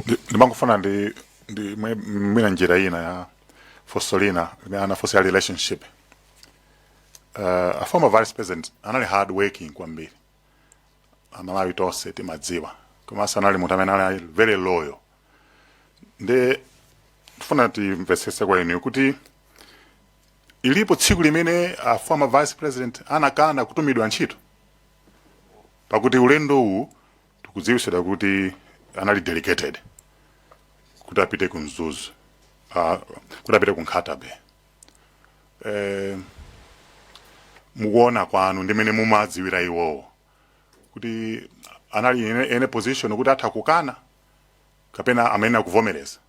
Ndi- ndimangofuna ndi ndi mwi- mwina njira ina ya funso lina limene anafunsa ya relationship uh, a former vice president anali hard working kwambiri amalawi tonse timadziwa komanso anali munthu amene anali very loyal nde tifuna timvetsese kwa inu kuti ilipo tsiku limene a former vice president anakana kutumidwa ntchito pakuti ulendo uwu tikudziwitsidwa kuti anali delegated kuti apite ku mzuzu ah, kuti apite ku nkhata bay eh, mukuona kwanu ndimene mumadziwira iwowo kuti anali in a, in a position kuti atha kukana kapena amene akuvomereza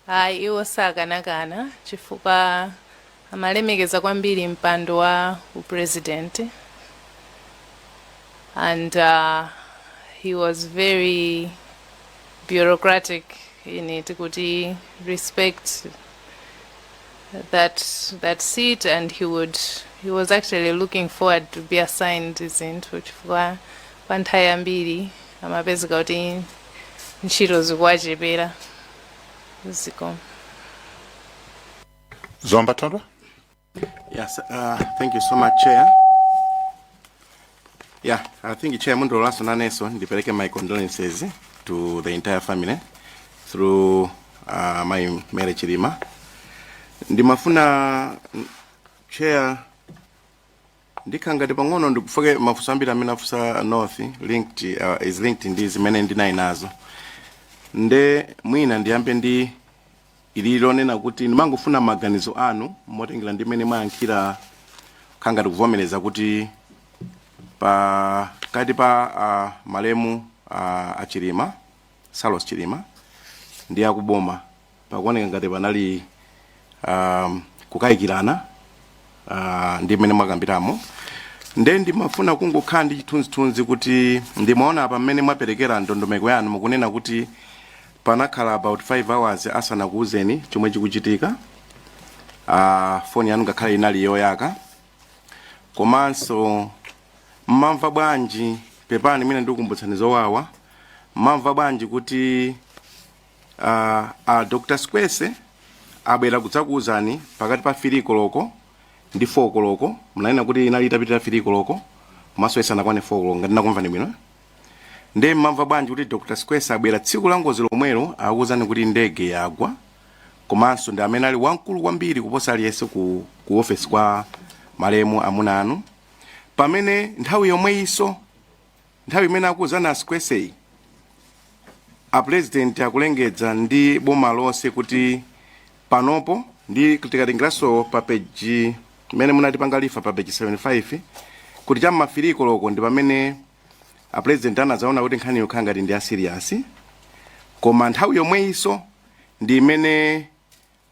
ayi iwo sakanakana chifukwa amalemekeza kwambiri mpando wa upresident and uh, he was very bureaucratic in it kuti respect that that seat and he would he was actually looking forward to be assigned zinthu chifukwa kwa nthawi yambiri amapezeka kuti ntchito zikuwachepera zikomo zomba thondwe Yes, uh, thank you so much, Chair. Yeah, I think Chair mundilolenso nanenso, ndipereke my condolences to the entire family through uh, mayi Mary Chilima. Ndimafuna mm, Chair Ndikhala ngati pang'ono ndikufupikitsa mafunso ambiri amene afunsa North linked uh, is linked ndi zimene ndinali nazo nde mwina ndiyambe ndi ili lonena kuti ndimangofuna maganizo anu motengera ndi mmene mwayankhira khala ngati kuvomereza kuti pakati pa uh, malemu uh, achilima saulos chilima ndi akuboma pakuoneka ngati panali um, kukayikirana uh, ndi mmene mwakambiramo nde ndimafuna kungokhala ndi chithunzithunzi kuti ndimaona apa mmene mwaperekera ndondomeko yanu mukunena kuti panakhala about 5 hours asanakuwuzeni chomwe chikuchitika uh, foni yanu ngakhale inali yoyaka komanso mmamva bwanji pepani mwina ndikukumbutsani zowawa mmamva bwanji kuti uh, uh, dr sikwese abwera kudzakuwuzani pakati pa fili koloko ndi 4 koloko munanena kuti inali itapitira fili koloko komanso isanakwane 4 koloko ngati ndakumvani bwino nde mmamva bwanji kuti dr sikwese abwera tsiku la ngozi lomwelo akuwuzani kuti ndege yagwa komanso ndi amene ali wamkulu kwambiri kuposa aliyense ku, ku ofesi kwa malemu amuna anu pamene nthawi yomweyinso Nthawi imene akuuzana a Sikwese, apulezidenti akulengedza ndi boma lonse kuti panopo ndi tikatengeranso pa peji imene munatipanga refer pa peji 75 kuti cha m'ma 3 koloko ndi pamene apulezidenti anadzaona kuti nkhani yo ikukhala ngati ndi ya serious koma nthawi yomweyinso ndi imene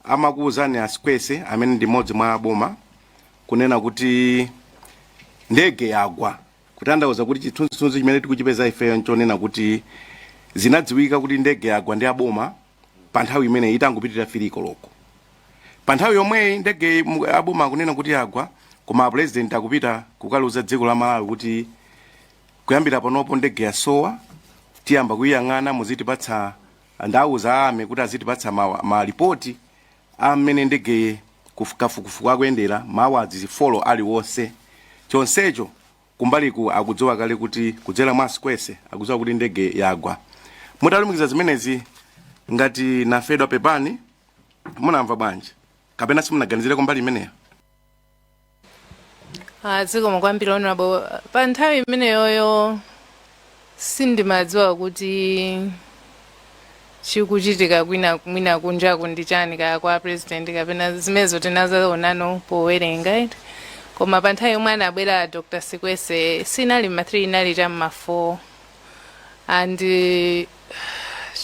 amakuuzani a Sikwese amene ndi mmodzi mwa aboma kunena kuti ndege yagwa kutandauza kuti chithunzithunzi chimene tikuchipeza ifeyo nchonena kuti zinadziwika kuti ndege yagwa ndi aboma pa nthawi imene itangopitira 3 koloko pa nthawi yomweyi ndege mu- aboma akunena kuti yagwa koma apulezidenti akupita kukaliuza dziko la malawi kuti kuyambira panopo ndege yasowa tiyamba kuyiyang'ana muzitipatsa Ndauza a army kuti azitipatsa ma ma report a mmene ndegeyi kuf kafukufuku akuyendera ma hours four aliwonse chonsecho kumbaliku akudziwa kale kuti kudzera mwa Sikwese akudziwa kuti ndege yagwa mutalumikiza zimenezi ngati anamfedwa pepani munamva bwanji kapena simunaganizireko mbali imeneyo? Ah, zikomo kwambiri honorable pa nthawi imeneyoyo sindimadziwa kuti chikuchitika kwina mwina kunjaku ndi chiyani kaya kwa president kapena zimenezo tinazaonano powerenga eti. koma pa nthawi yomwe anabwera dr sikwese sinali ma 3 inali cha ma 4 and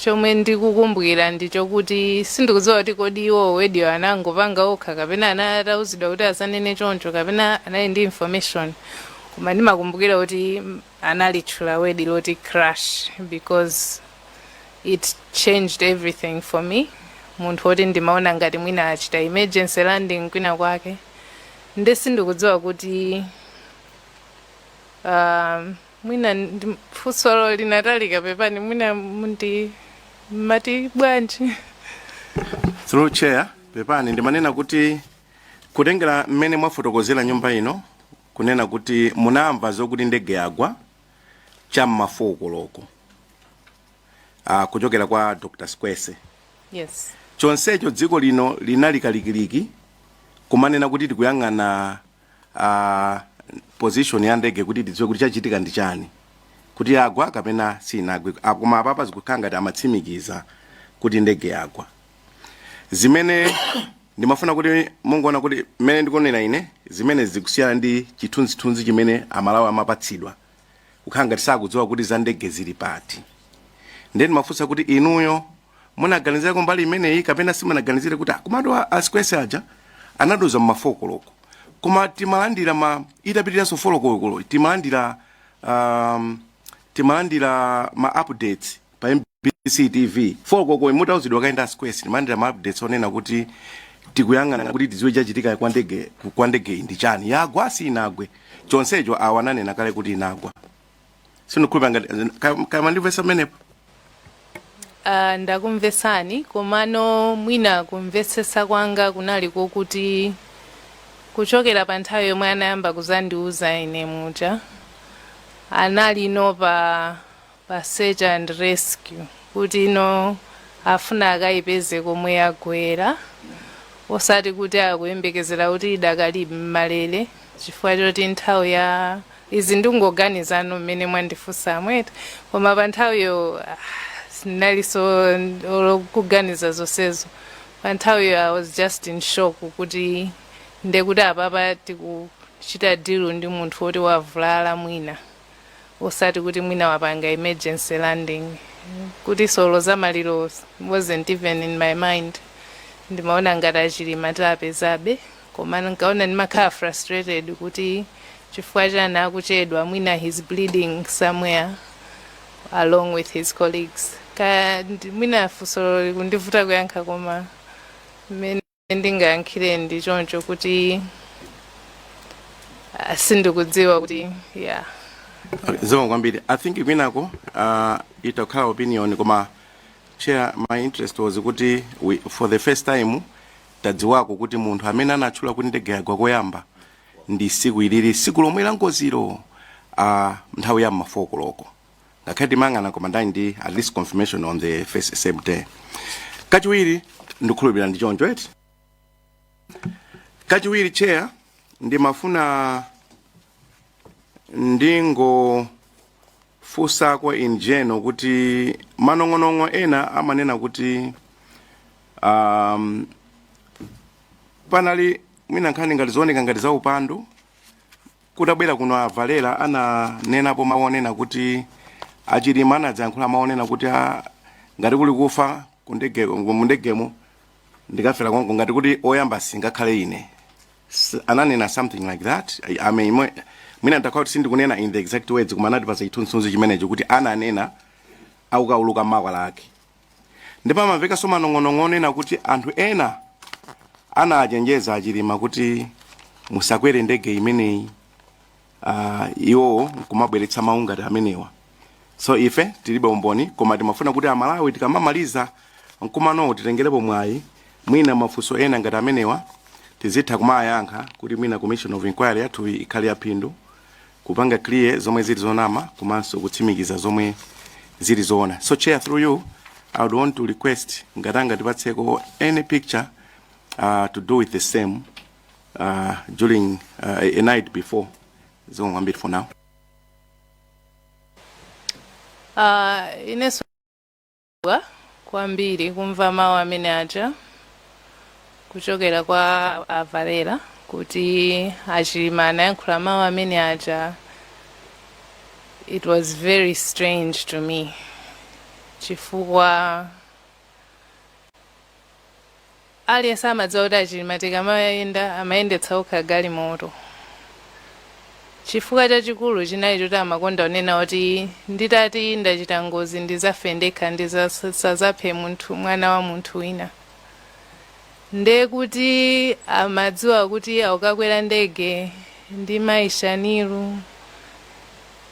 chomwe ndikukumbukira ndi chokuti sindikudziwa kuti kodi word-yo anangopanga okha kapena anali atauzidwa kuti azanene choncho kapena anali ndi information koma ndimakumbukira kuti analitchula word loti crash because it changed everything for me munthu woti ndimaona ngati mwina achita emergency landing kwina kwake nde sindikudziwa kuti um, mwina ndiye funsolo linatalika pepani mwina mundi mumati bwanji through chair pepani ndimanena kuti kutengera mmene mwafotokozera nyumba ino kunena kuti munamva zokuti ndege yagwa cha m'ma 4 koloko ah, kuchokera kwa dr Sikwese yes chonsecho dziko lino linali kalikiliki kumanena kuti tikuyang'ana ah, position ya ndege kuti tidziwe kuti chachitika ndi chiyani kuti yagwa kapena sinagwe Ah, koma apapa zikukhala ngati amatsimikiza kuti ndege yagwa zimene ndimafuna kuti mungoona kuti mmene ndikunena ine zimene zikusiyana ndi chithunzithunzi chimene amalawi amapatsidwa kukhala ngati sakudziwa kuti za ndege zili pati ndiye ndimafunsa kuti inuyo munaganizirako mbali imeneyi kapena simunaganizire kuti komatu asikwese aja anadoza mmafokoloko koma timalandira ma itapitiranso folokolo timalandira um, timalandira ma updates pa mbc tv folokoko mutauzidwa kaenda asikwese timalandira ma updates onena kuti tikuyang'ana kuti tidziwe chachitika kwa ndege kwa ndege ndi chani yagwa si inagwe chonsecho awa ananena kale kuti inagwa sindikhulupira ngati ka- kama ndimvetsa pamenepo Ah, ndakumvesani komano mwina kumvetsesa kwanga kunali kokuti kuchokera pa nthawi yomwe anayamba kuzandiuza ine muja anali no pa pa search and rescue kuti no afuna akayipeze komwe yagwera osati kuti akuyembekezera kuti idakali m'malele chifukwa choti nthawi ya Izi ndikungoganizano mmene mwandifunsamu eti koma pa nthawiyo ah, sindinalinso olo kuganiza zonsezo pa nthawiyo i was just in shock kuti ndekuti apapa tikuchita deal ndi munthu woti wavulala mwina osati kuti mwina wapanga emergency landing kuti so olo za maliro wasn't even in my mind ndimaona ngati achilima tiwapezabe koma nkaona ndimakhala frustrated kuti chifukwa chani akuchedwa mwina he's bleeding somewhere along with his colleagues kaya ndi- mwina funso likundivuta kuyankha koma mmene ndingayankhire ndi choncho kuti ah, sindikudziwa kuti yeah zomwe kwambiri i think kwinako uh, itakhala opinion koma chair my interest was kuti we, for the first time tadziwako kuti munthu amene anatchula kuti ndege yagwa koyamba ndi tsiku ilili tsiku lomwe la ngozilo a nthawi ya m'ma 4 koloko ngakhale timayang'ana koma ndani ndi at least confirmation on the first same day kachiwiri ndikhulupirira ndi choncho eti kachiwiri chair ndimafuna ndingo funsako in general kuti manong'onong'o ena amanena kuti um, panali mwina nkhani ngati zooneka ngati zaupandu kutabwera kuno a Valera ananenapo mawu onena kuti achilima anadzayankhula mawu onena kuti a, ngati kuli kufa kundege mundegemo ndikafera konko ngati kuti oyamba singakhale ine S- ananena something like that I- I mean, mwe- mwina ndakhala kuti sindikunena in the exact words koma anatipasa chithunzithunzi chimenecho kuti ananena akukauluka mankhwala ake ndipo amamvekanso manong'onong'o onena kuti anthu ena anachenjeza achilima kuti musakwere ndege imeneyi uh, iwowo nkumabweretsa mawu ngati amenewa so ife tilibe umboni koma timafuna kuti amalawi tikamamaliza mkumanowu titengerepo mwayi mwina mafunso ena ngati amenewa tizitha kumayankha kuti mwina commission of inquiry yathu ikhale yaphindu kupanga clear zomwe zili zonama komanso kutsimikiza zomwe zili zoona so chair through you i would want to request ngati angatipatseko any picture uh, to do with the same uh, during uh, a night before zikomo kwambiri for now uh, inenso kwambiri kumva mawu amene aja kuchokera kwa a Valera kuti a Chilima anayankhula mawu amene aja it was very strange to me chifukwa Aliyense amadziwa kuti a Chilima tikamayenda amayendetsa okha galimoto. Chifukwa chachikulu chinali choti amakonda kunena kuti nditati ndachita ngozi ndizafe ndekha ndisazaphe mwana wa munthu wina. Nde kuti amadziwa kuti akukakwera ndege ndi Mayi Shanil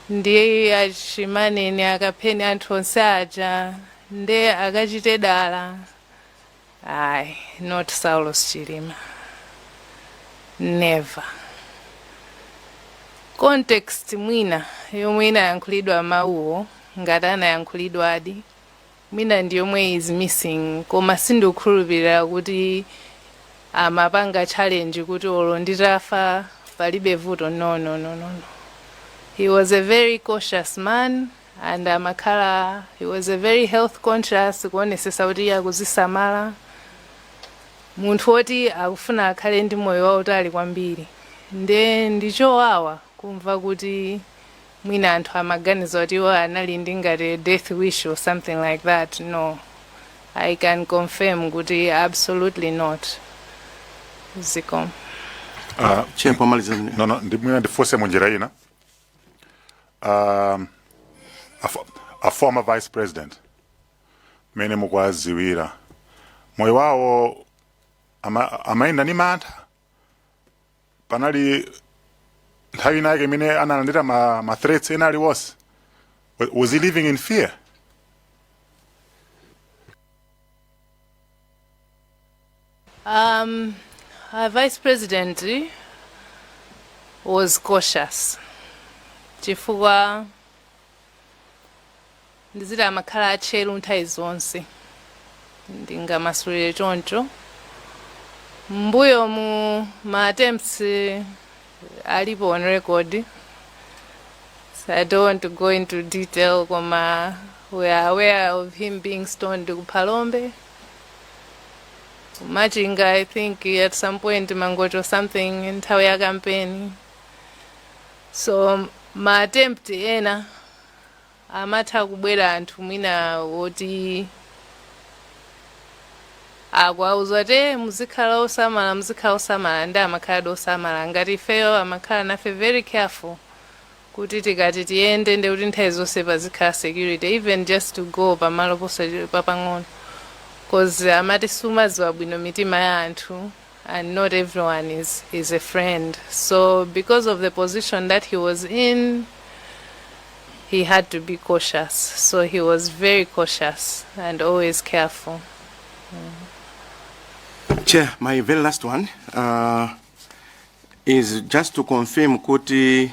ndi a Chimaneni, a Kapheni anthu onse aja ndi akachite dala. Ayi, not Saulos Chilima. Never. Context mwina yomwe inayankhulidwa mawuwo ngati anayankhulidwadi mwina ndi yomwe is missing koma sindikukhulupirira kuti amapanga challenge kuti olo nditafa palibe vuto no no no no no he was a very cautious man and amakhala he was a very health conscious kuonesesa kuti iye akuzisamala munthu woti akufuna akhale ndi moyo wautali kwambiri nde ndichowawa kumva kuti mwina anthu amaganiza kuti iwo anali ndi ngati death wish or something like that no i can confirm kuti absolutely not zikomo Ah, Chair, pomaliza zimene- no, no, ndi mwina ndifunse munjira ina um, a, fo- a former vice president mmene mukuwadziwira moyo wawo ama- amayenda ndi mantha panali nthawi inayake imene analandira ma, ma threats ena aliwonse Wa- was he living in fear Um, our vice president was cautious chifukwa ndiziti amakhala atcheru nthawi zonse ndingamasulire choncho m'mbuyomu ma attempts eh, alipo on record so i don't want to go into detail koma we are aware of him being stoned ku Phalombe Machinga, I think at some point Mangochi or something nthawi ya campaign. So ma attempt ena amatha kubwera anthu mwina woti akuwauza kuti muzikhala osamala muzikhala osamala nde amakhala ndi osamala ngati ifeyo amakhala nafe very careful kuti tikati tiyende ndekuti nthawi zonse pazikhala security even just to go pamalo posendera pang'ono cuz amati sumadziwa bwino mitima ya anthu and not everyone is, is a friend so because of the position that he was in he had to be cautious so he was very cautious and always careful Chair, my very last one. Uh, is just to confirm kuti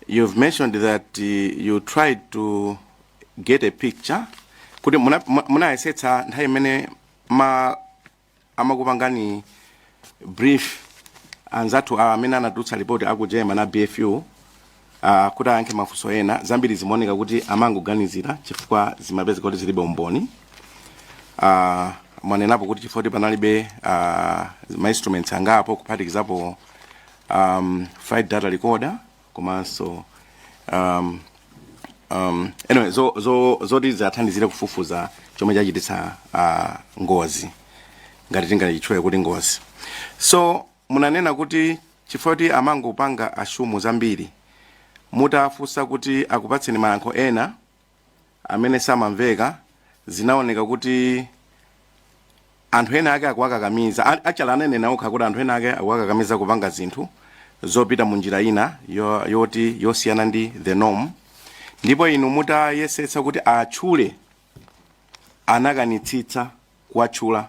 you've mentioned that uh, you tried to get a picture kuti muna- mu- munayesetsa nthawi imene ma amakupangani brief anzathu amene anatulutsa report aku german a bfu Uh, kuti ayankhe mafunso ena zambiri zimaoneka kuti amangoganizira chifukwa zimapezeka kuti zilibe umboni uh, mwanenapo kuti chifukwa kuti panalibe uh, ma instruments angapo kuphatikizapo um, flight data recorder komanso um, um, anyway, zo, zo, zoti zithandizire kufufuza chomwe chachititsa uh, ngozi ngati tingachitchule kuti ngozi so Munanena kuti chifukwa choti amangopanga assume zambiri, mutawafunsa kuti akupatseni mayankho ena amene samamveka zinaoneka kuti anthu ena ake akuwakakamiza, a- actually ananena okha kuti anthu ena ake akuwakakamiza kupanga zinthu zopita mu njira ina yo- yoti yosiyana ndi the norm, ndipo inu mutayesetsa kuti atchule anakanitsitsa kuwatchula.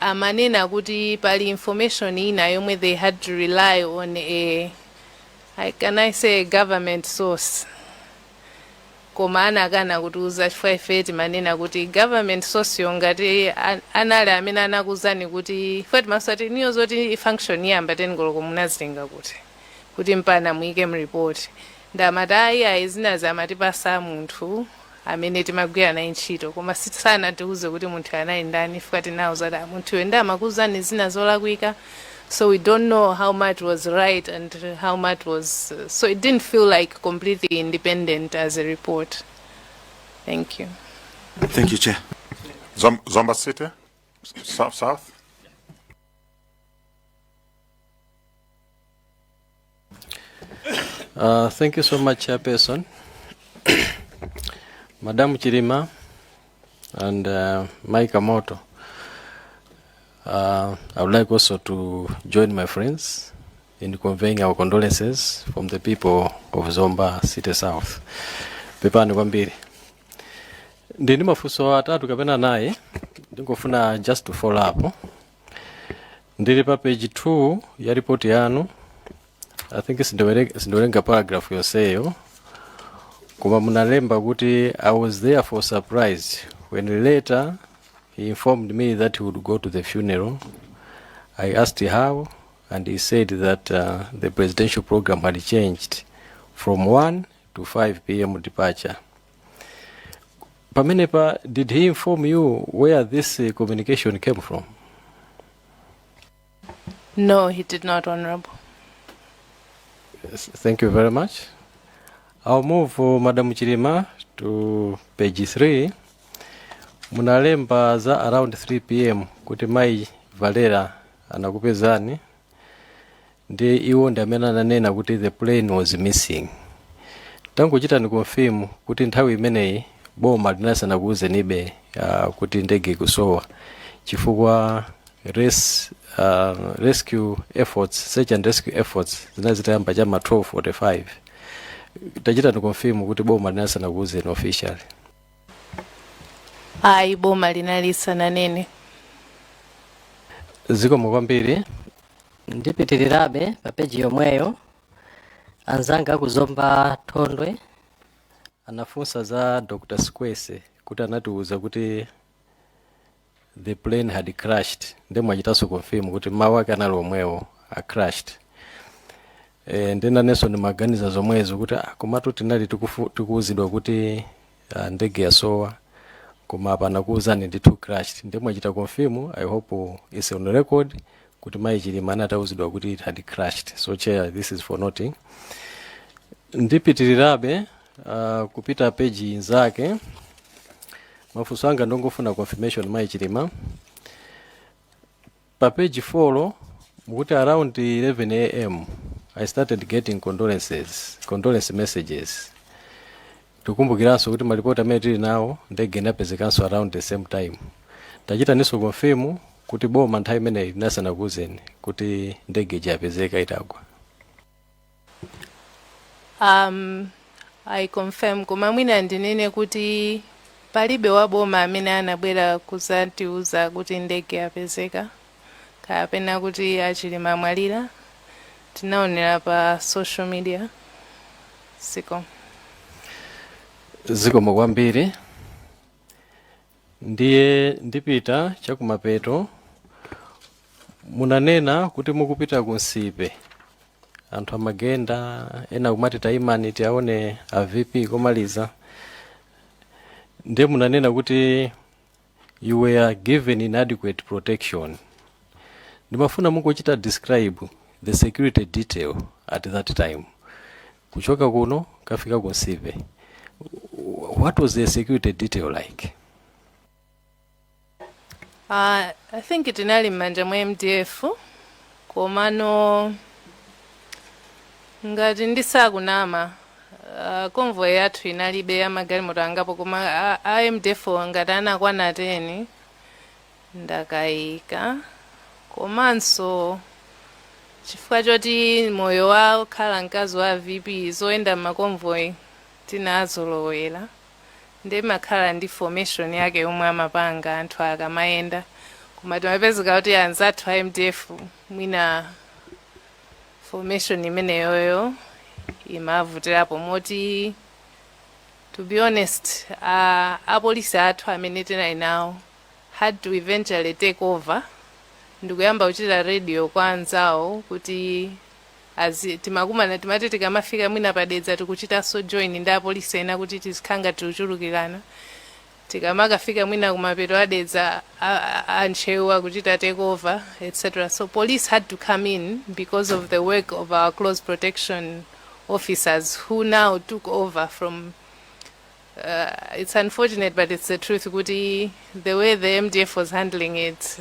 amanena kuti pali information ina yomwe they had to rely on a I- can I say a government source koma anakana kutiuza chifukwa ife timanena kuti government source yo ngati a- anali amene anakuuzani kuti ife timafunsa ati niyo zoti function iyamba 10 koloko munazitenga kuti kuti mpaka muike mripoti ndiye amati ayi ayi zinazi amatipatsa munthu amene timagwira naye ntchito koma si- sanatiuze kuti munthuyo anali ndani ife tinawauza kuti "Ah, munthuyo ndiye amakuuzani zina zolakwika so we don't know how much was right and how much was uh, so it didn't feel like completely independent as a report thank you Thank you, Chair. Zom- Zomba City, S- South, South. Uh, thank you so much, Chairperson. Madam Chirima and uh, Mike Amoto. Uh, I would like also to join my friends in conveying our condolences from the people of Zomba City South. Pepani kwambiri. Ndini mafunso atatu kapena naye ndingofuna just to follow up ndili pa page 2 ya ripoti yanu i think sindiwere- sindiwerenga paragraph yonseyo koma munalemba kuti i was there for surprise when later he informed me that he would go to the funeral i asked how and he said that uh, the presidential program had changed from 1 to 5 pm departure pamenepa did he inform you where this uh, communication came from No, he did not, Honorable. Yes, thank you very much i'll move uh, madam chilima to page 3 munalemba za around 3 pm kuti mai valera anakupezani ndi iwo ndi amene ananena kuti the plane was missing tangochitani confirm kuti nthawi imeneyi boma linali lisanakuuzenibe uh, kuti ndege ikusowa chifukwa res, uh, rescue efforts search and rescue efforts zinali zitayamba chama 1245 tachitani confirm kuti boma linali lisanakuuzeni officially ayi boma linali lisananene zikomo kwambiri ndipitirirebe pa peji yomweyo anzanga akuzomba thondwe anafunsa za dr squese kuti anatiuza kuti the plane had crashed ndiye mwachitanso confirm kuti mawu ake anali omwewo a crashed e, ndiye nanenso ndimaganiza zomwezo kuti ah, komatu tinali tikufu- tikuwuzidwa kuti ya ndege yasowa koma apa anakuwuzani ndithu crashed ndiye mwachita confirm i hope it's on record kuti mayi chilima anatiwuza kuti it had crashed so chair this is for noting ndipitirirebe uh, kupita peji inzake mafunso anga ndingofuna confirmation mayi chilima Pa page 4 mukuti around 11 am I started getting condolences, condolence messages. Tikumbukirenso kuti malipoti amene tili nawo ndege inapezekanso around the same time. Tachitaninso confirm kuti boma nthawi imeneyi linali lisanakuuzeni kuti ndege ija yapezeka itagwa. um, i confirm koma mwina ndinene kuti palibe waboma amene anabwera kudzatiuza kuti ndege yapezeka kapena kuti achilima amwalira tinaonera pa social media zikomo zikomo kwambiri ndiye ndipita chakumapeto munanena kuti mukupita ku nsipe anthu amagenda ena kumati tayimani tiaone a vp komaliza ndiye munanena kuti you were given inadequate protection ndimafuna mungochita describe the security detail at that time Kuchoka kuno kukafika ku Nsipe, what was the security detail like? Uh, I think tinali m'manja mwa MDF komano ngati ndisakunama uh, convoy yathu inalibe, ya, magalimoto angapo koma a, a MDF ngati anakwana 10 ndakaika komanso chifukwa choti moyo wa kukhala mkazi wa vp zoyenda m'maconvoy tinazolowera nde imakhala ndi formation yake yomwe amapanga anthu akamayenda koma timapezeka kuti anzathu a mdf mwina formation imeneyoyo imavutirapo moti to be honest uh, apolisi athu amene tinali nawo had to eventually take over ndikuyamba kuchita radio kwa anzawo kuti azi timakumana timati tikamafika mwina pa Dedza tikuchitanso join ndi apolisi ena kuti tizikhala ngati tikuchulukirana tikamakafika mwina kumapeto a Dedza a Ntcheu akuchita take over etc so police had to come in because of the work of our close protection officers who now took over from Uh, it's unfortunate but it's the truth kuti the way the mdf was handling it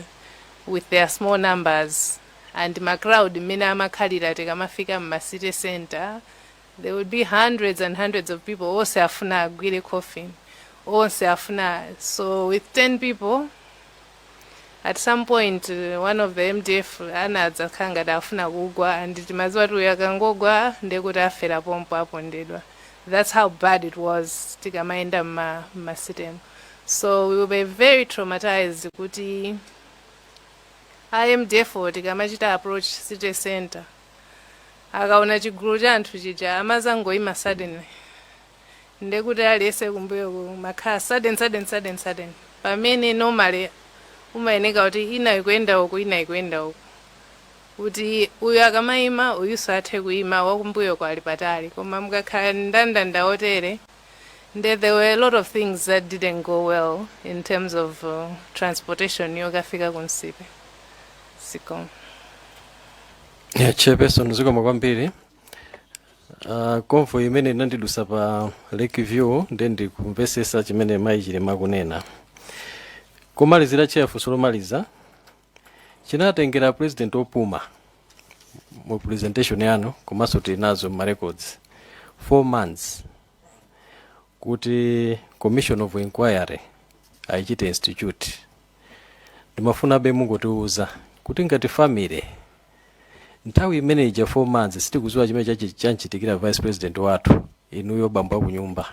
with their small numbers and macrowd mmene amakhalira tikamafika mumacity center there would be hundreds and hundreds of people onse afuna agwire coffin onse afuna so with 10 people at some point uh, one of the mdf anadzakhala ngati afuna kugwa ndi timadziwa kuti uyu akangogwa ndiye kuti afera pompo apondedwa that's how bad it was tikamayenda mma- mmasitemu so we were very traumatized kuti a mdf tikamachita approach city center akaona chigulu cha anthu chija amazangoima suddenly ndekuti aliyense kumbuyoko kumakhala sudden sudden sudden sudden pamene normally umayeneka kuti ina ikuyenda uku ina ikuyenda uku kuti uyu akamayima uyuso athe kuyima wakumbuyoko ali patali koma mukakhala ndandanda wotere nde there were a lot of things that didn't go well in terms of uh, transportation yokafika ku Nsipe zikomo Yeah, chairperson zikomo kwambiri Uh, convoy imene inandidutsa pa lake view ndi ndikumvetsetsa chimene mayi chilima akunena pomalizira chair funso lomaliza zinatengera president opuma mu presentation yanu komanso tili nazo mu records 4 months kuti commission of inquiry ayichite institute ndimafunabe mungotiuza kuti ngati family Nthawi imene ija 4 months sitikuziwa chimene chachi- chamuchitikira vice president wathu inuyo banja kunyumba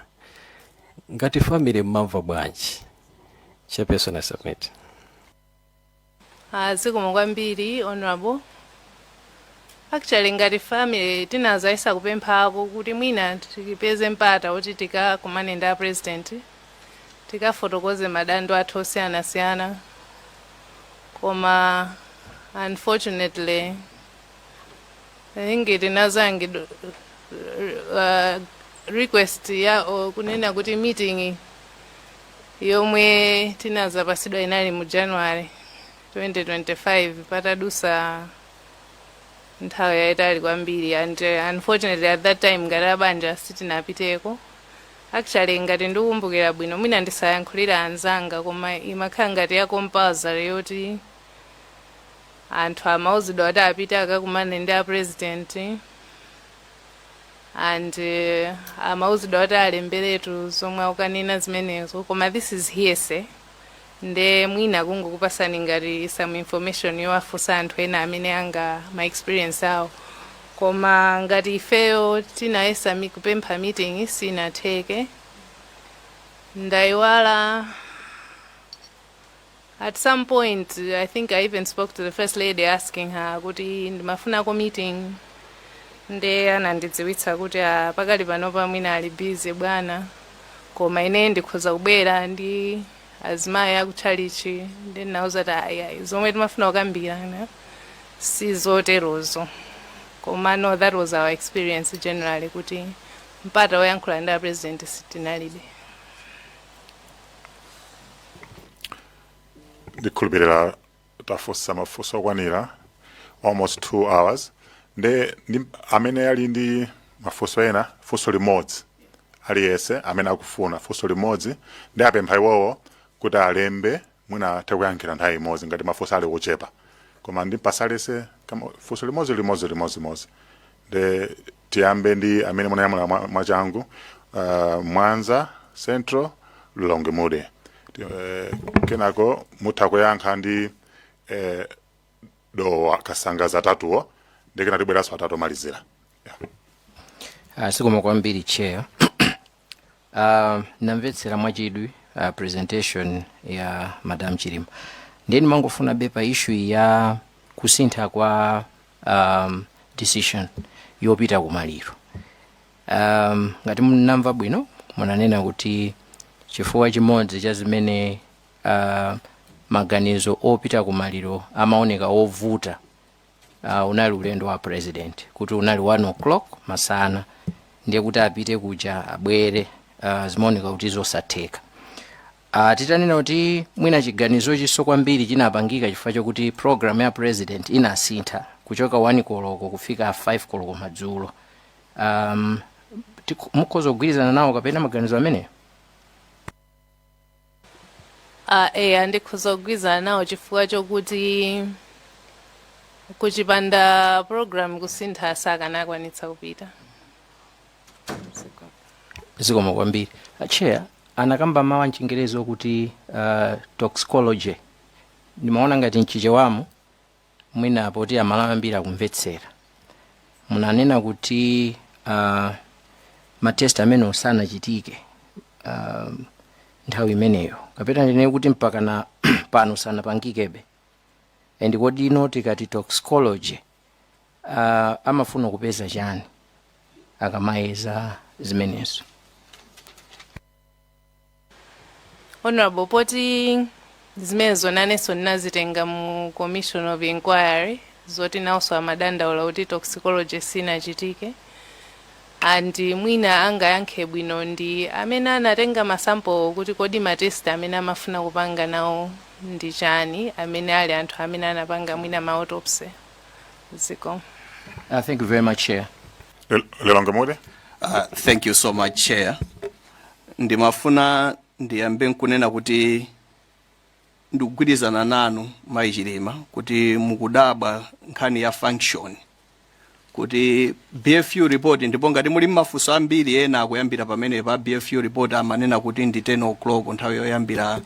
ngati family mumamva bwanji chairperson i submit Ah, zikomo kwambiri honorable actually ngati family tinazayesa kupemphako kuti mwina tipeze mpata woti tikakumane ndi a president tikafotokoze madandaulo athu osiyanasiyana koma unfortunately I think it inazakanidwa uh, request ya o, kunena kuti meeting yomwe tinazapasidwa inali mu January 2025 patadutsa nthawi yayitali kwambiri and uh, unfortunately at that time ngati abanja sitinapiteko Actually ngati ndikukumbukira bwino, mwina ndisayankhulire anzanga koma imakhala ngati ya compulsory yoti anthu amauzidwa kuti apite akakumane ndi a president and uh, amauzidwa kuti alemberetu zomwe akukanena zimenezo koma this is hearsay nde mwina kungokupasani ngati some information yowafunsa anthu ena amene pa ma experience awo koma ngati ifeyo tinayesa mi- kupempha meeting sinatheke ndaiwala at some point i think i even spoke to the first lady asking her kuti ndimafunako meeting nde anandidziwitsa kuti ah, pakali panopa mwina ali busy bwana koma ine ndikhoza kubwera ndi azimayi akutchalitchi nde ndinawauza kuti ayi ayi zomwe timafuna kukambirana si zoterozo koma no that was our experience generally kuti mpata woyankhula ndi apresident tinalibe ndikhulupirira tafunsa mafunso okwanira almost 2 hours nde ndi amene ali ndi mafunso ena funso limodzi aliyese amene akufuna funso limodzi ndiwapempha iwowo kuti alembe mwina atha kuyankhira nthawi imodzi ngati mafunso ali kuchepa koma ndipatsa aliyese kama- funso limodzi limodzi limodzi limodzi nde tiyambe ndi amene munanyamula mwa- mwachangu uh, mwanza central Lilongwe Mude Ti- eh, kenako mutha kuyankha ndi eh, dowa kasangaza atatuwo ndi kenako tibweranso atatu omalizira yeah. zikomo kwambiri chair Uh, namvetsera mwachidwi uh, presentation ya madam chilima ndiye ndimangofunabe pa issue ya kusintha kwa um, decision yopita kumaliro um, ngati ndinamva bwino munanena kuti chifukwa chimodzi cha zimene uh, maganizo opita kumaliro amaoneka ovuta uh, unali ulendo wa president kuti unali 1 o'clock masana ndiye kuti apite kuja abwere uh, zimaoneka kuti zosatheka uh, titanena kuti mwina chiganizo ichiso kwambiri chinapangika chifukwa chokuti program ya president inasintha kuchoka 1 koloko kufika 5 koloko madzulo um, tiku- mukhoza kugwirizana nawo kapena maganizo ameneyo Uh, eya ndikhoza kugwirizana nawo chifukwa chokuti kuchipanda program kusintha sakanakwanitsa kupita zikomo kwambiri acheya anakamba mawu amchingerezi okuti uh, toxicology ndimaona ngati mchichewamu mwina poti amalawi ambiri akumvetsera munanena kuti uh, matest amenewo sanachitike uh, nthawi imeneyo kapena ndinene kuti mpaka na pano sanapangikebe and kodi inu tikati toxicology uh, amafuna kupeza chani akamayeza zimenezo honorable poti zimenezo nanenso ndinazitenga mu commission of inquiry zoti nawonso amadandaula kuti toxicology sinachitike and mwina angayankhe bwino ndi amene anatenga masampo kuti kodi matest amene amafuna kupanga nawo ndi chani amene ali anthu amene anapanga mwina ma autopsy zikomo Uh, thank you very much, Chair. Lel- Lelonga Mode. Uh, thank you so much, Chair. ndimafuna ndiyambe nkunena kuti ndikugwirizana nanu mayi chilima kuti mukudabwa nkhani ya function kuti bfu report ndipo ngati muli mafunso ambiri ena akuyambira pamene pa bfu report amanena kuti ndi 10 o'clock nthawi yoyambira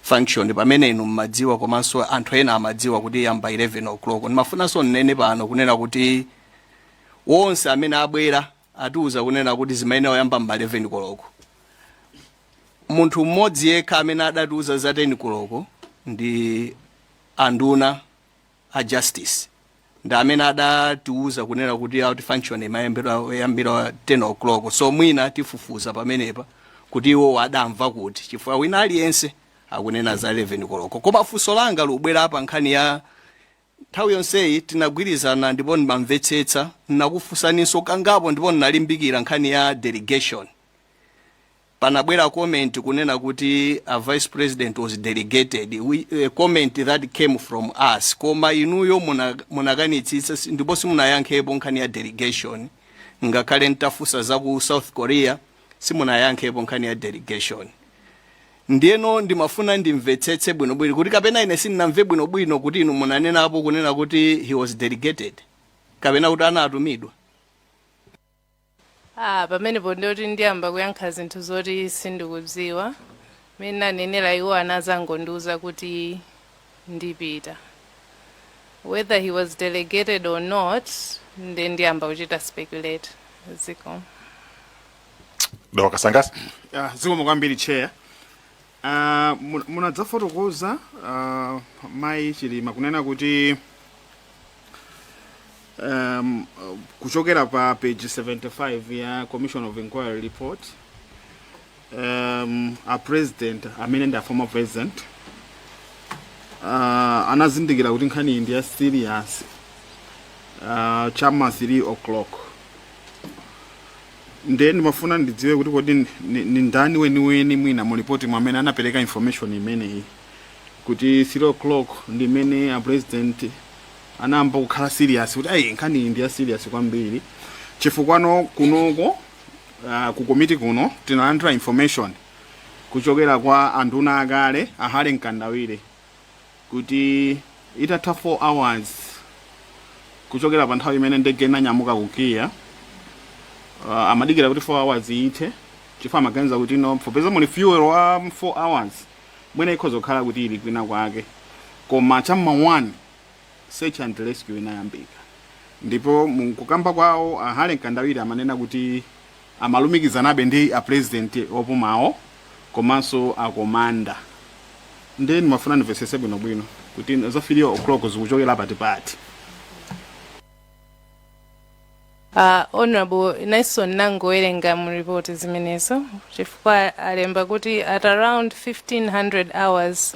function pamene inu mmadziwa komanso anthu ena amadziwa kuti iyamba 11 o'clock ndimafunanso nnene pano kunena kuti wonse amene abwera atiuza kunena kuti zimayenera kuyamba m'ma 11 koloko. Munthu mmodzi yekha amene adatiuza za 10 koloko ndi anduna a Justice ndi amene adatiuza kunena kuti ati function imayambira yambira 10 o'clock so mwina tifufuza pamenepa kuti iwowo adamva kuti chifukwa wina aliyense akunena za 11 koloko koma funso langa likubwera pa nkhani ya Nthawi yonseyi tinagwirizana ndipo ndimamvetsetsa. Ndinakufunsaninso kangapo ndipo ndinalimbikira nkhani ya delegation. Panabwera comment kunena kuti a Vice President was delegated, a comment that came from us, koma inuyo munakanitsitsa ndipo simunayankhepo nkhani ya delegation. Ngakhale nditafunsa za ku South Korea, simunayankhepo nkhani ya delegation. Ndiyeno ndimafuna ndimvetsetse bwinobwino, kuti kapena ine sindinamve bwinobwino kuti inu munanenapo, kunena kuti, he was delegated, kapena kuti anatumidwa. Ah, pamenepo ndiye kuti ndiyamba kuyankha zinthu zoti sindikudziwa. Mmene ndanenera iwo anazangondiuza kuti ndipita. Whether he was delegated or not, nde ndiyamba kuchita speculate. Zikomo. Dawa kasangasa. Ah, zikomo kwambiri chair Ah, mun- munadzafotokoza ah, mayi chilima kunena kuti um, kuchokera pa page 75 ya commission of inquiry report um, a president amene ndi a former president uh, anazindikira kuti nkhani iyi ndi ya serious uh, chama 3 o'clock Nde ndimafuna ndidziwe kuti kodi ndi ndani weniweni mwina mu lipotimo amene anapereka information imeneyi kuti 3 o'clock ndi imene a president anayamba kukhala serious kuti ayi nkhani iyi ndi ya serious kwambiri chifukwa kunoko uh, ku komiti kuno tinalandira information kuchokera kwa anduna akale a Harry Mkandawire kuti itatha 4 hours kuchokera pa nthawi imene ndege inanyamuka ku Kia uh, amadikira kuti 4 hours ithe chifukwa amaganiza kuti no popeza muli fuel wa 4 hours mwina ikhoza kukhala kuti ili kwina kwake koma chamma 1 search and rescue inayambika ndipo mkukamba kwawo a Harry Mkandawire amanena kuti Amalumikizanabe ndi a president opumawo komanso a commander nde ndimafuna ndimvesese bwino bwino kuti za 3 oclock zikuchokela pati pati. Ah Hon. Nyson ndangowerenga mu report zimenezo chifukwa alemba kuti at around 1500 hours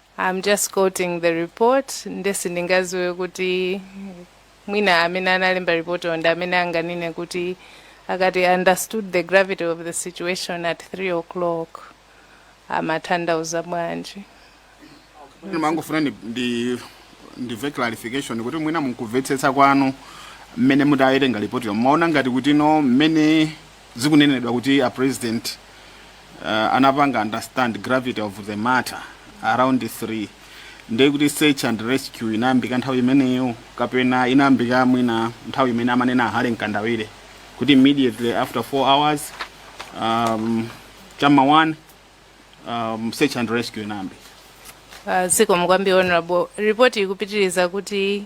I'm just quoting the report nde sindingadziwe kuti mwina amene analemba report ndi amene anganene kuti akati understood the gravity of the situation at 3 o'clock amatanthauza bwanji Ine ndimangofuna ndi- ndi ndimve clarification kuti mwina mkumvetsetsa kwanu mmene mutawerenga lipoti yo mmaona ngati kuti no mmene Zikunenedwa kuti a president anapanga understand gravity of the matter around 3 ndiye kuti search and rescue inayambika nthawi imeneyo kapena inayambika mwina nthawi imene amanena a Harry Mkandawire kuti immediately after 4 hours um, chama 1 um, search and rescue inayambika Uh, zikomo kwambiri honorable report ikupitiriza kuti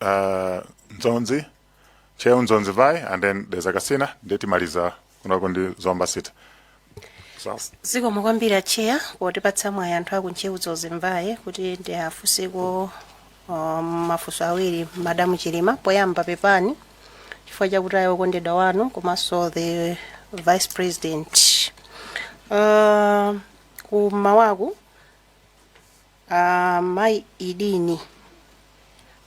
uh, Nzonzi, Ntcheu Dzonzi Mvai, and then there's Agasina, nde timaliza kunako ndi Zomba City. So, zikomo kwambiri atcheya potipatsa mwayi anthu aku Ntcheu Dzonzi Mvai kuti ndiwafunseko um, mafunso awiri madamu chilima poyamba pepani chifukwa chakutaya okondedwa wanu komanso the vice president uh, kumawaku A mayi Idini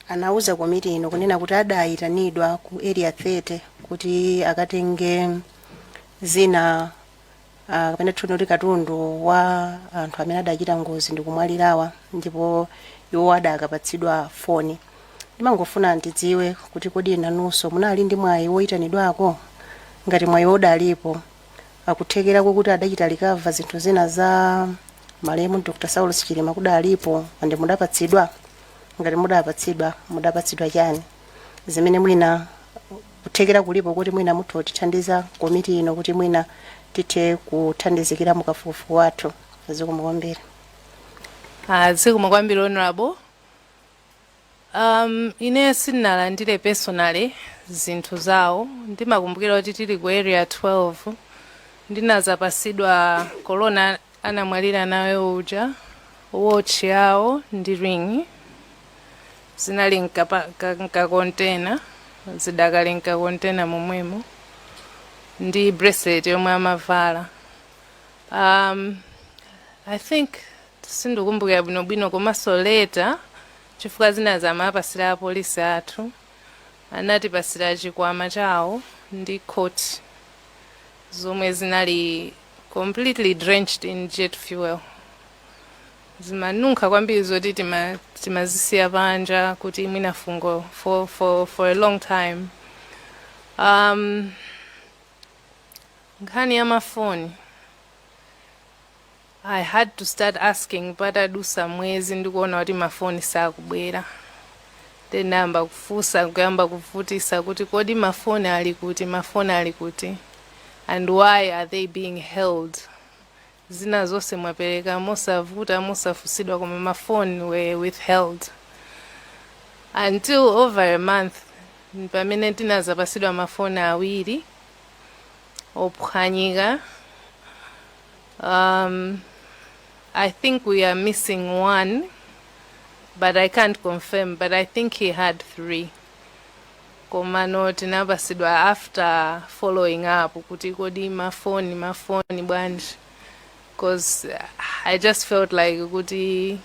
anauza komiti ino kunena kuti adayitanidwa ku Area 30 kuti akatenge zina ah, kapena tinene kuti katundu wa anthu amene adachita ngozi ndi kumwalirawa ndipo iwo adakapatsidwa foni. Ndimangofuna ndidziwe kuti kodi inunso munali ndi mwayi woyitanidwako? Ngati mwayi udalipo, akuthekera koti adachita recover zinthu zina za malemu Dr. Saulos Chilima kudalipo and mudapatsidwa ngati mudapatsidwa mudapatsidwa chani zimene mwina kuthekera kulipo kuti mwina mutha kutithandiza komiti ino kuti mwina tithe kuthandizikira mukafukufuku wathu zikomo kwambiri Ah, zikomo kwambiri honorable Um, ine sindinalandire personally zinthu zawo. Ndimakumbukira kuti tili ku area 12 ndinazapasidwa korona anamwalira nayo uja, watch yawo ndi ring zinali mkapa- ka- mkakontena zidakali mkakontena momwemo ndi bracelet yomwe amavala. Um, I think sindikumbukira bwino bwino komanso later chifukwa zinazi amaapasira apolisi athu anatipasira chikwama chawo ndi coat zomwe zinali completely drenched in jet fuel zimanunkha kwambiri zoti tima- timazisiya panja kuti mwina fungo for, for, for a long time um, nkhani ya mafoni I had to start asking patadusa mwezi ndikuona kuti ma phone sakubwera then ndinayamba kufunsa kuyamba kuvutisa kuti kodi ma phone ali kuti ma phone ali kuti and why are they being held zina zonse mwapereka mosavuta mosafunsidwa koma ma phone were withheld until over a month pamene ndinazapasidwa ma phone awiri ophwanyika Um, I think we are missing one, but I can't confirm, but I think he had three. komano tinapasidwa after following up kuti kodi mafoni mafoni bwanji because i just felt like kuti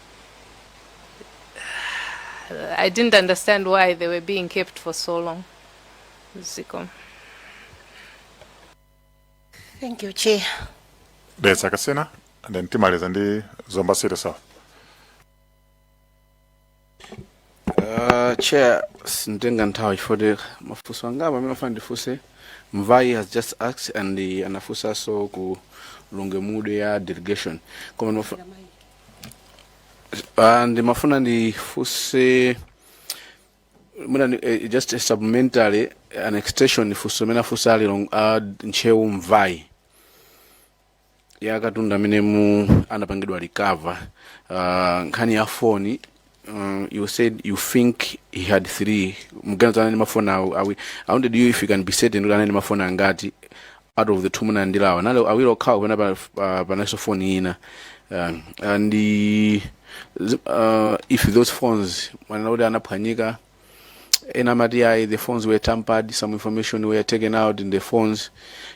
i didn't understand why they were being kept for so long ziko Thank you, Chair. That's Akasena, and then Timales and then Zomba City South. Uh, chair sintenga nthawi chifukwa choti mafunso angapo amene ndimafuna ndifunse mvai has just asked and uh, anafunsanso ku Lilongwe, leader of delegation koma ndimafu- Ah, ndimafuna ndifunse mwina ni- eh, just a supplementary an extension funso imene afunsa ali long- a ntcheu mvayi ya katundu amene mu- anapangidwa recover uh, nkhani ya foni uh, you said you think he had three mukuganiza anali mafoni awi awi I wanted if you can be certain kuti anali mafoni angati out of the two munalandirawa nali awiri okhawo kapena pa- pa- panalinso foni ina um, and uh, zi- uh, if those phones mwanena kuti anaphwanyika ena amati ayi the phones were tampered some information were taken out in the phones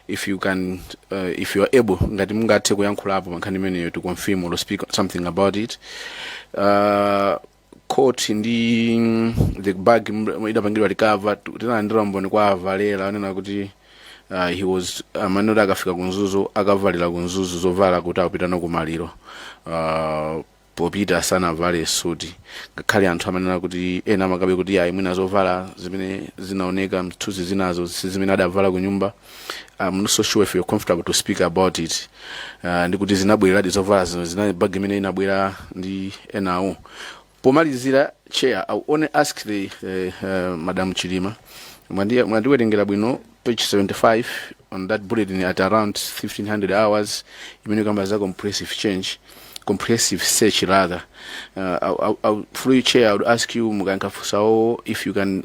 if you can uh, if you are able ngati mungathe kuyankhulapo pankhani imeneyo to confirm or speak something about it uh, coat ndi the bag m- idapangidwa recover tu- tinalandira mboni kwa a Valera onena kuti uh, he was amene kuti akafika ku Mzuzu akavalira ku Mzuzu zovala kuti apitano kumaliro uh, popita sanavale suti ngakhale anthu amanena kuti ena amakamba kuti ayi mwina zovala zimene zinaoneka m'zithunzi zinazo si zimene adavala kunyumba I'm not so sure if you're comfortable to speak about it uh, ndikuti zinabwereradi zovala zino zinali mu bag imene inabwera ndi enawo pomalizira chair i will only ask the uh, uh, madam Chilima Mwandi- mwandiwerengera bwino page 75 on that bulletin at around 1500 hours imene kamba za comprehensive change comprehensive search rather uh, I, I, I, through you chair i would ask you mukankafusawo if you can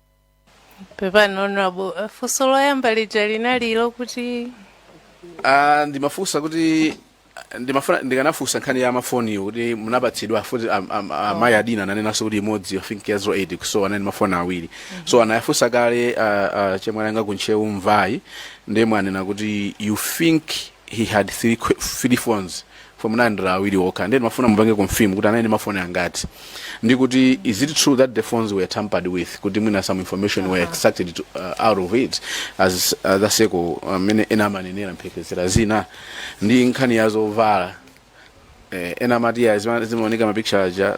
pepani honorable Eh, funso loyamba lija linali lokuti Ah, ndimafunsa kuti ndimafuna ndikanafunsa nkhani ya mafoniyo kuti munapatsidwa kuti am- am- amayi adina ananenanso kuti imodzi i think ya 08 kusowa anali mafoni awiri so anayafunsa kale ah, ah, achemwali anga ku Ntcheu mvayi ndiye mwanena kuti you think he had three, que- three phones fwe munalandira awiri okha ndiye ndimafuna mupange confirm kuti anali ndi mafoni angati ndi kuti is it true that the phones were tampered with kuti mwina some information were extracted to, uh, out of it as uh, zadzeko mmene ena amanenera mphekesera zina ndi nkhani ya zovala eh, ena amati ya zima- zimaoneka mapicture aja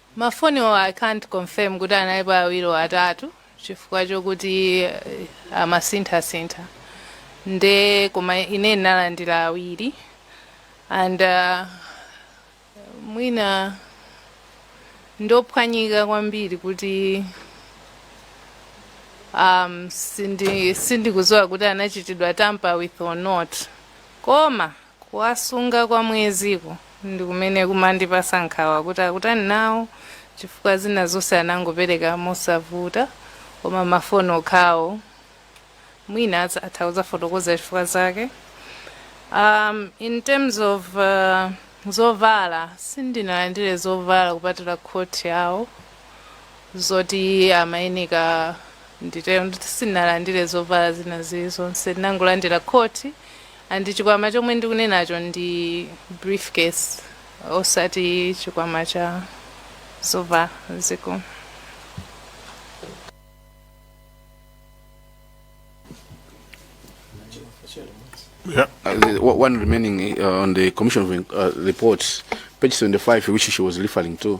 Ma phone wo I can't confirm kuti analipo awiri or atatu chifukwa chokuti amasintha sintha nde koma ine ndinalandira awiri and mwina ndophwanyika kwambiri kuti um sindi sindikuziwa kuti anachitidwa tamper with or not koma Kuwasunga kwa mweziwo ndikumene kumandipasa nkhawa kuti akutani nawo chifukwa zina zonse anangopeleka mosavuta koma ma phone okhawo mwina atha kuzafotokoza chifukwa zake um, in terms of uh, zovala sindinalandire zovala kupatula coat yawo zoti amayeneka nditero nditi sinalandire zovala zina zili zonse ndinangolandira coat And chikwama chomwe ndikunenacho ndi briefcase osati chikwama cha zovala zija. Yeah. Uh, the o- one remaining uh, on the commission of in- uh, report, page 75, which she was referring to.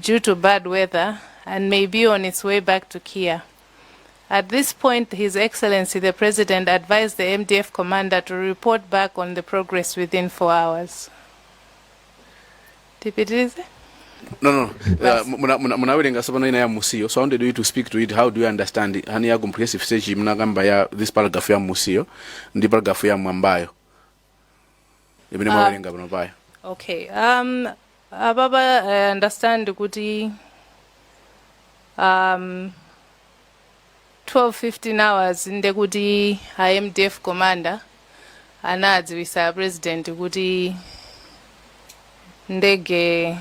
due to bad weather and may be on its way back to Kia. At this point, His Excellency the President advised the MDF commander to report back on the progress within four hours. Tipitirize? no no uh, muna- muna- munawerenga sopano ina ya musiyo so i wanted you to speak to it how do you understand it? hani ya comprehensive search munakamba ya this paragraph ya musiyo ndi paragraph ya mwambayo imene Ah. mwawerenga pano payo okay um apapa i understand kuti um 12 15 hours nde kuti a mdf commander anadziwisa president kuti ndege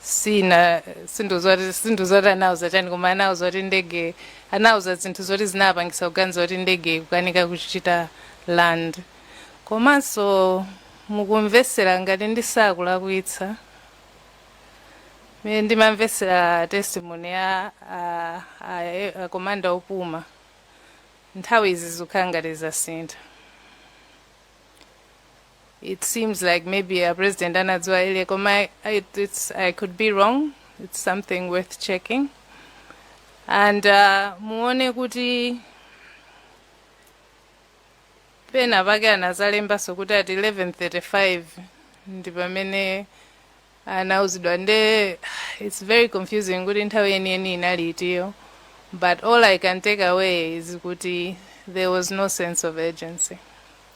sina sindidziwa sindidziwa kuti anauza chani koma anauza kuti ndege anauza zinthu zoti zinapangisa kuganiza kuti ndege ikukanika kuchita land komanso mukamvesera ngati sindikulakwitsa mene ndimamvesera testimony ya a- a- a- komanda opuma nthawi izi zikukhala ngati zasintha it seems like maybe a president anadziwa earlier koma I, I, it's, i could be wrong it's something worth checking and uh, muone kuti pena pake anazalembaso kuti ati 1135 ndi pamene anauzidwa nde its very confusing kuti nthawi yeniyeni inali itiyo but all i can take away is kuti there was no sense of urgency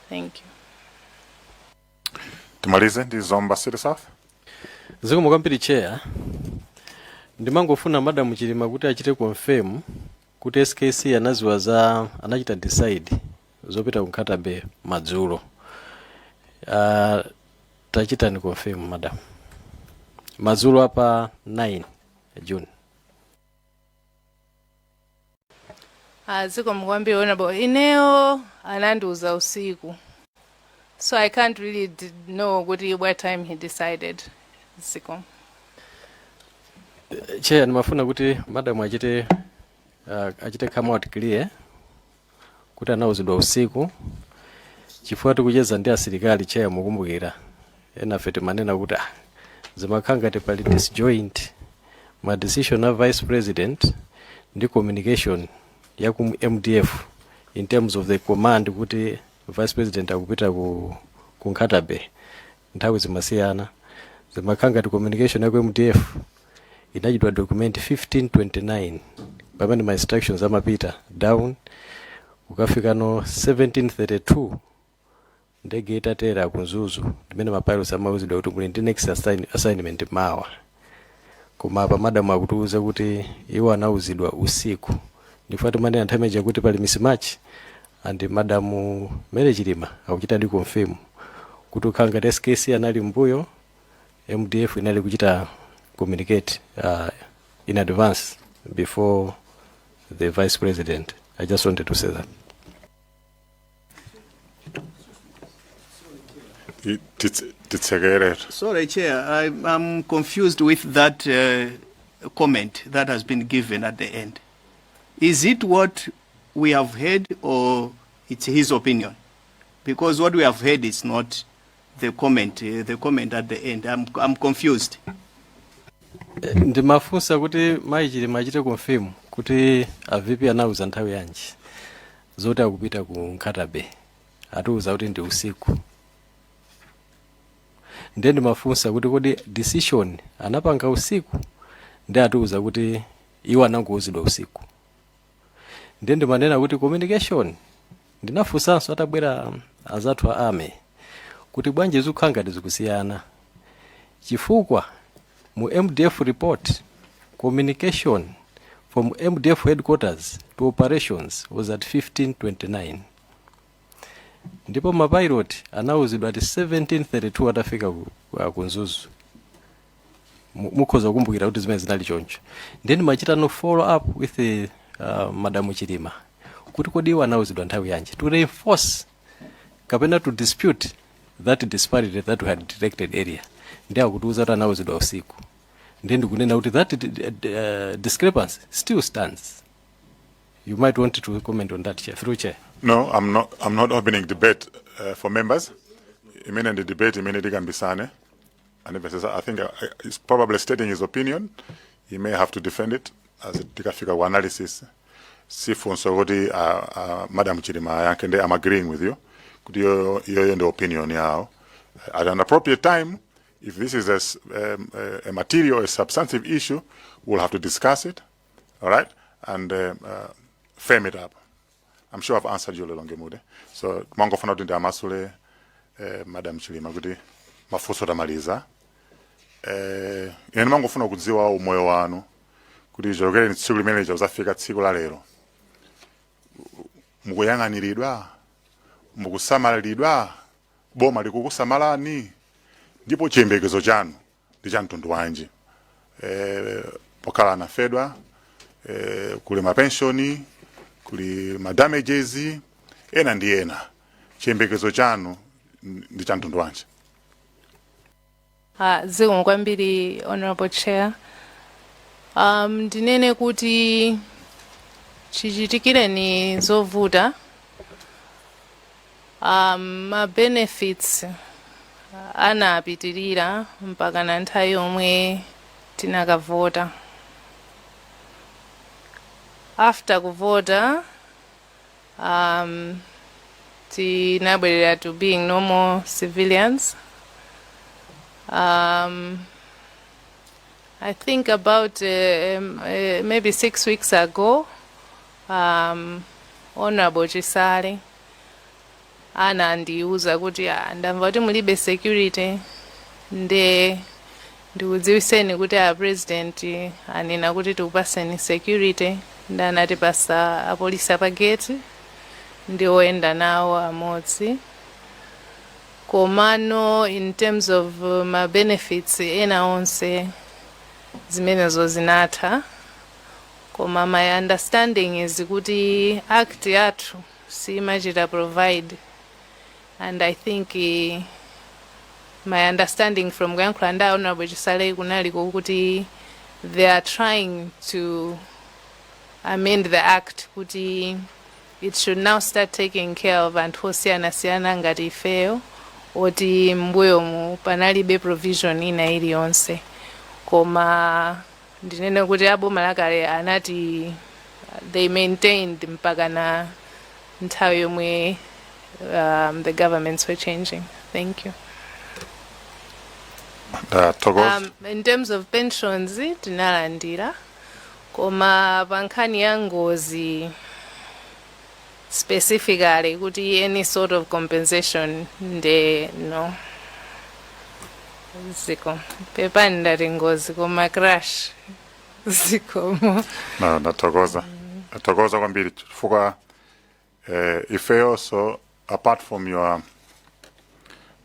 thank you timalize ndi zomba city south zikomo kwambiri chair ndimangofuna madam chilima kuti achite confirm kuti skc anaziwa za anachita decide zopita ku nkhatabay madzulo uh, tachitani confirm madam madzulo a pa 9 june Ah, zikomo kwambiri honorable ineyo anandiuza usiku so i can't really d- know kuti what time he decided zikomo cheya ndimafuna kuti madam achite uh, achite come out clear kuti anauzidwa usiku chifukwa tikucheza ndi asilikali cheya mukumbukira enafe timanena kuti ah, zimakhala ngati pali disjoint ma decision a vice president ndi communication ya ku mdf in terms of the command kuti vice president akupita ku, ku nkhatabay nthawi zimasiyana zimakhala ngati communication ya ku mdf inachitidwa document 1529 pamene ma instructions amapita down kukafikano 1732 ndege itatera ku mzuzu ndimene mapilots amauzidwa kuti muli ndi next assign, assignment mawa Koma apa madam akutiuza kuti iwo anauzidwa usiku. Ndifukwa timanena nthawi imeneja kuti pali mismatch and madam Mary Chilima akuchitadi confirm kuti kukhala ngati SKC anali m'mbuyo MDF inali kuchita communicate uh, in advance before the vice president. I just wanted to say that. I- titse- titsekerere Sorry, Chair, I, I'm confused with that uh, comment that has been given at the end. Is it what we have heard or it's his opinion? Because what we have heard is not the comment, uh, the comment at the end. I'm, I'm confused. ndimafunsa kuti mayi chilima achite confirm kuti a vp anauza nthawi yanji zoti akupita ku nkhatabay atiuza kuti ndi usiku ndiye ndimafunsa kuti kodi decision anapanga usiku ndiye atiuza kuti iwo anangouzidwa usiku ndiye ndimanena kuti communication ndinafunsanso atabwera azathu a army kuti bwanji zikukhala ngati zikusiyana chifukwa Mu mdf report, communication from mdf headquarters to operations was at 15:29. Ndipo ma pilot anauzidwa at 17:32 atafika ku, ku- ku Mzuzu. Mu- Mukhoza kukumbukira kuti zimene zinali choncho. Nde ndimachita no follow up with uh, Madam Chilima. Kuti kodi iwo anauzidwa nthawi yanji to reinforce kapena to dispute that disparity that we had detected earlier nde akutiuza kuti anauzidwa usiku nde ndikunena kuti that uh, discrepancy still stands you might want to comment on that chair through chair No, I'm not, I'm not opening debate uh, for members. Imene ndi debate imene tikambisane. anamvetsetsa i think uh, is probably stating his opinion he may have to defend it as it tikafika ku analysis sifunso kuti uh, uh, madam chilima ayankhe ndi am agreeing with you kuti iyoyo iyoyo ndi opinion yawo at an appropriate time if this is a, s- um, a- a material a substantive issue we'll have to discuss it all right and um, uh, firm it up I'm sure I've answered you lilongwe mude so ndimangofuna kuti ndiamasule eh, madam chilima kuti mafunso tamaliza eh, ine ndimangofuna kudziwa umoyo wanu kuti chokereni tsiku limene lija kuzafika tsiku la lero mukuyang'aniridwa mukusamaliridwa boma likukusamalani ndipo chiyembekezo chanu ndi cha mtundu wanji e, pokhala anafedwa e, kuli mapenshoni kuli ma damages ena ndi ena chiyembekezo chanu n- ndi cha mtundu wanji Ah, zikomo kwambiri honorable chair um, ndinene kuti chichitikireni zovuta Ma benefits anapitilira mpakana nthawi yomwe tinakavota. After kuvota tinabwerera to being normal civilians. I think about maybe 6 weeks ago, Honorable Chisale. anandiuza kuti ah, ndamva kuti mulibe security nde ndikudziwiseni kuti a president anena kuti tikupaseni security ndi anatipasa apolisi apa gate ndi oyenda nawo amodzi komano in terms of uh, ma benefits ena onse zimenezo zinatha koma my understanding is kuti act yathu siimachita provide and i think eh, my understanding from kuyankhula ndi honorable chisale kunali kokuti they are trying to amend the act kuti it should now start taking care of anthu osiyanasiyana ngati ifeyo oti mbuyomu panalibe provision ina iliyonse koma ndinene kuti a boma lakale anati- they maintained mpaka na nthawi yomwe um, the governments were changing thank you ndathokoza um, in terms of pensions tinalandira koma pa nkhani ya ngozi specifically kuti any sort of compensation nde no zikomo pepani ndati ngozi koma crash zikomo ndathokoza ndathokoza kwambiri chifukwa eh, ifeyonso apart from your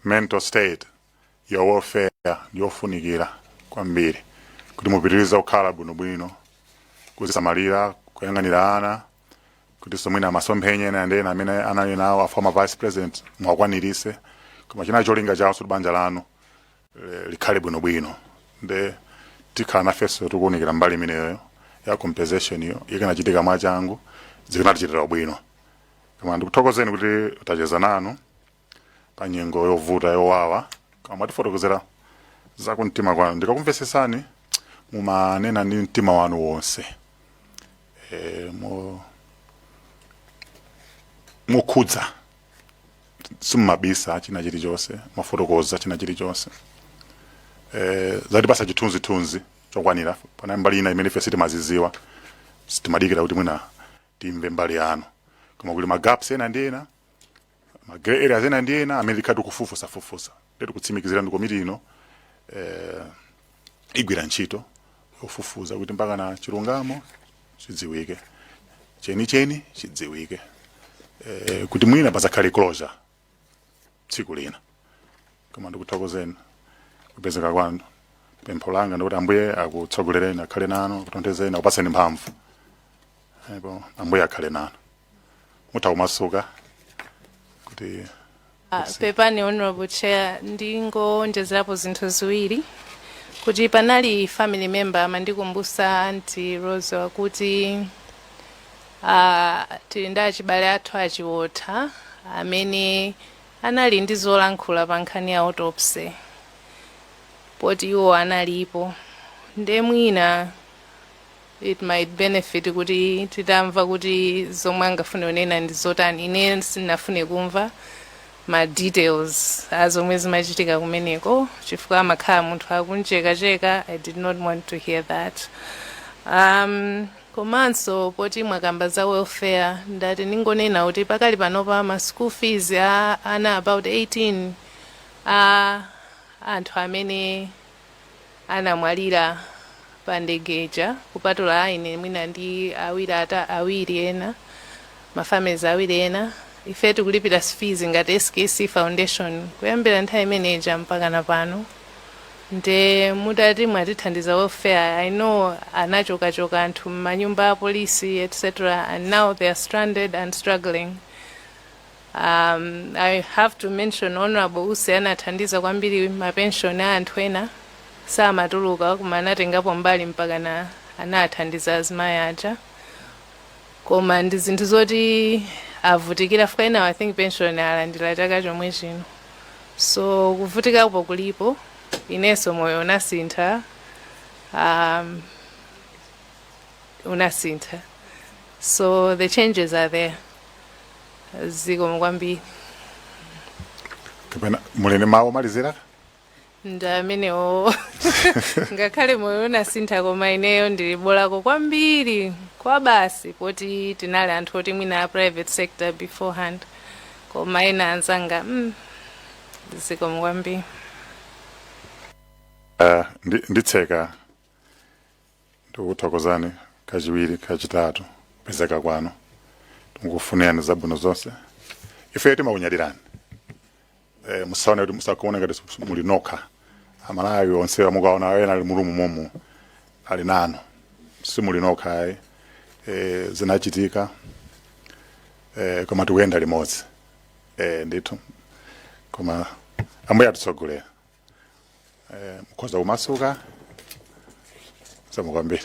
mental state Your welfare ndi yofunikira kwambiri kuti mupitirize kukhala bwinobwino, kuzisamalira, kuyang'anira ana kutinso mwina masomphenya ena ndi ena amene anali nawo a former vice president muwakwanirise koma chinali cholinga chawo kuti banja lanu eh, likhale bwinobwino nde tikhala nafenso tikuwunikira mbali imeneyo ya compensation iyo ikanachitika mwachangu zikanatichitira ubwino koma ndikuthokozeni kuti tacheza nanu pa nyengo yovuta yowawa koma mwatifotokozera za kumtima kwanu ndikakumvetsetsani mumanena ndi mtima wanu wonse e, mo, mokhudza simunabise china chilichonse mwafotokoza china chilichonse e, zatipasa chithunzithunzi chokwanira pa mbali ina imene ife sitimazidziwa timadikira kuti mwina timve mbali yanu koma kuli magaps ena ndi ena ma grey areas ena ndi ena amene tikhale tikufufuzafufuza nde tikutsimikizireni komiti ino eh, igwira ntchito yofufuza kuti mpaka na chilungamo chidziwike cheni cheni chidziwike eh, kuti mwina pazakhale closure tsiku lina lake koma ndikuthokozeni kupezeka kwanu pempho langa ndikuti ambuye akutsogolereni akhale nanu akutonthezeni akupatseni mphamvu ndipo ambuye akhale nanu mutha kumasuka kuti Ah, pepani honorable chair ndingowonjezerapo zinthu ziwiri kuti panali family member amandikumbusa anti rose wakuti ah, tili ndi abale athu a Chiwotha amene anali ndi zolankhula pa nkhani ya autopsy poti iwo analipo nde mwina it might benefit kuti titamva kuti zomwe angafune kunena ndi zotani ine sindinafune kumva ma details a zomwe zimachitika kumeneko chifukwa amakhala munthu akumchekacheka i did not want to hear that um, komanso poti mwakamba za welfare ndati ndingonena kuti pakali panopa ma school fees a ana about 18 a anthu amene anamwalira pa ndege ija kupatula aine mwina ndi awiri ata awiri ena ma families awiri ena ife tikulipira fees ngati SKC Foundation kuyambira nthawi imene ija mpaka na pano nde mutati mwatithandiza welfare i know anachokachoka anthu m'manyumba a polisi etc and now they are stranded and struggling Um, I have to mention Honorable Usi anathandiza kwambiri mapenshoni a anthu ena samatuluka koma anatengapo mbali mpaka na anathandiza azimayi aja koma ndi zinthu zoti avutikira chifukwa ena I think pension alandira chaka chomwe chino so kuvutikapo kulipo inenso moyo unasintha um, unasintha so the changes are there zikomo kwambiri kapena muli ndi mawu omalizira ndi amenewo ngakhale moyo unasintha koma ineyo ndili bolako kwambiri chabe basi poti tinali anthu oti mwina a private sector beforehand koma ena anzanga mm, zikomo kwambiri Ah, ndi- nditseka tikuthokozeni kachiwiri kachitatu kupezeka kwanu tikukufunirani zabwino zonse ifeyo timakunyadirani eh, musaone kuti timakuonani ngati su- muli nokha Amalawi onse amakuonani ena ali mulimonsemo ali nanu simuli nokha ayi eh, zinachitika eh, koma tikuyenda limodzi eh, ndithu koma ambuye atitsogolera mukhoza kumasuka zikomo kwambiri